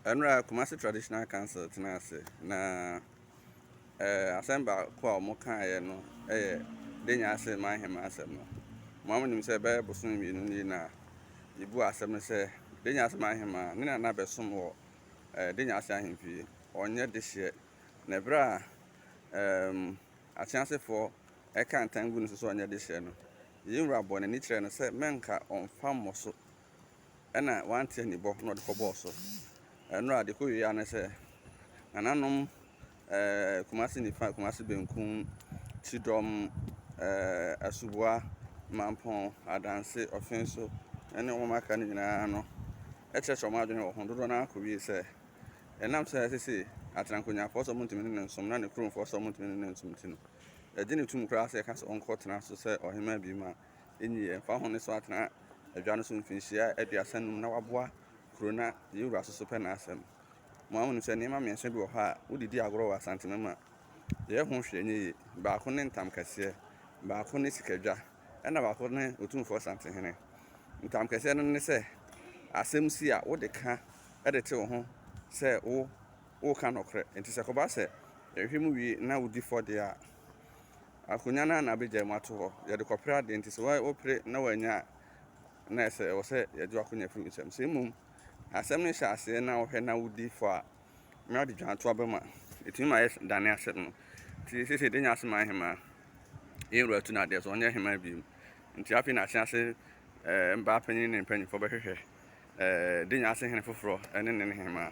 Ɛnora Kumasi Traditional Council tenaa ase na asɛm baako a wɔn kaeɛ no yɛ Denyaase Mmaa Ahemaa asɛm no. Mo ara mo nim sɛ bɛyɛ bosome mmienu nie na yɛbuu asɛm no sɛ Denyaase Mmaa Ahemaa ne nana bɛsom wɔ Denyaase ahemfie, wɔnyɛ dehyeɛ. Na ɛberɛ a Akyeasefoɔ ɛka ntan gu no so sɛ ɔnyɛ dehyeɛ no, yei wura bɔɔ n'ani kyerɛɛ no sɛ mɛnka ɔmfa mmɔ so ɛna wante anibɔ na ɔde kɔbɔɔ so. Ɛno a de kɔ wieɛ ara ne sɛ nananom ɛɛ Kumasi nifa, Kumasi benkum, Kyidɔm, ɛɛ Asuboa, Mampɔn, Adanse, Ɔfenso ɛne wɔn a aka no nyinaa no ɛkyerɛkyerɛ wɔn adwene wɔ ho. Dodoɔ no ara kɔ wie sɛ ɛnam sɛ sese Aterankonyafoɔ sɛ wɔntumi ne no nsom na ne kuromfoɔ sɛ wɔntumi ne no nsom nti no, ɛgye no tom koraa sɛ yɛka sɛ ɔnkɔtena so sɛ ɔhemaa bio mu a. Ennyi ɛ, mfa ho no sɛ ɔatena adwa no so mfirihyia aduasa num na ɔaboa kurow na yɛn wura so so pɛ n'asɛm. Mo ara munim sɛ nneɛma mmiɛnsa bi wɔ hɔ a wode di agorɔ wɔ Asantema mu a, yɛyɛ ho hwee nyɛ yie. Baako ne ntamkɛseɛ, baako ne sikadwa, ɛnna baako ne Otumfoɔ Asantehene. Ntamkɛseɛ no ne sɛ, asɛm si a, wode ka de te wo ho sɛ wo woreka nɔkorɛ. Enti sɛ ɛkɔba sɛ yɛhwehwɛ mu wie na wodi fɔ deɛ a, Akonnwa no ara na abɛgyae mu ato hɔ. Yɛde kɔpere adeɛ nti, sɛ wopere na woannya a, na ayɛ sɛ ɛwɔ sɛ yɛgye w'akonnwa firi wo nsam. Sɛ mmom asɛm no hyɛ aseɛ na wohwɛ na wodi fɔ a, na wode dwan to abam a, ɛtumi ma yɛdane asɛm no. Nti seesei deɛ yɛanya asɛm ayɛ hemaa, yɛn wura tu no adeɛ sɛ ɔnyɛ hemaa bio. Nti afei na atease mmaa panin ne mpanimfoɔ bɛhwehwɛ Denya ase hene foforɔ ne ne ne hemaa.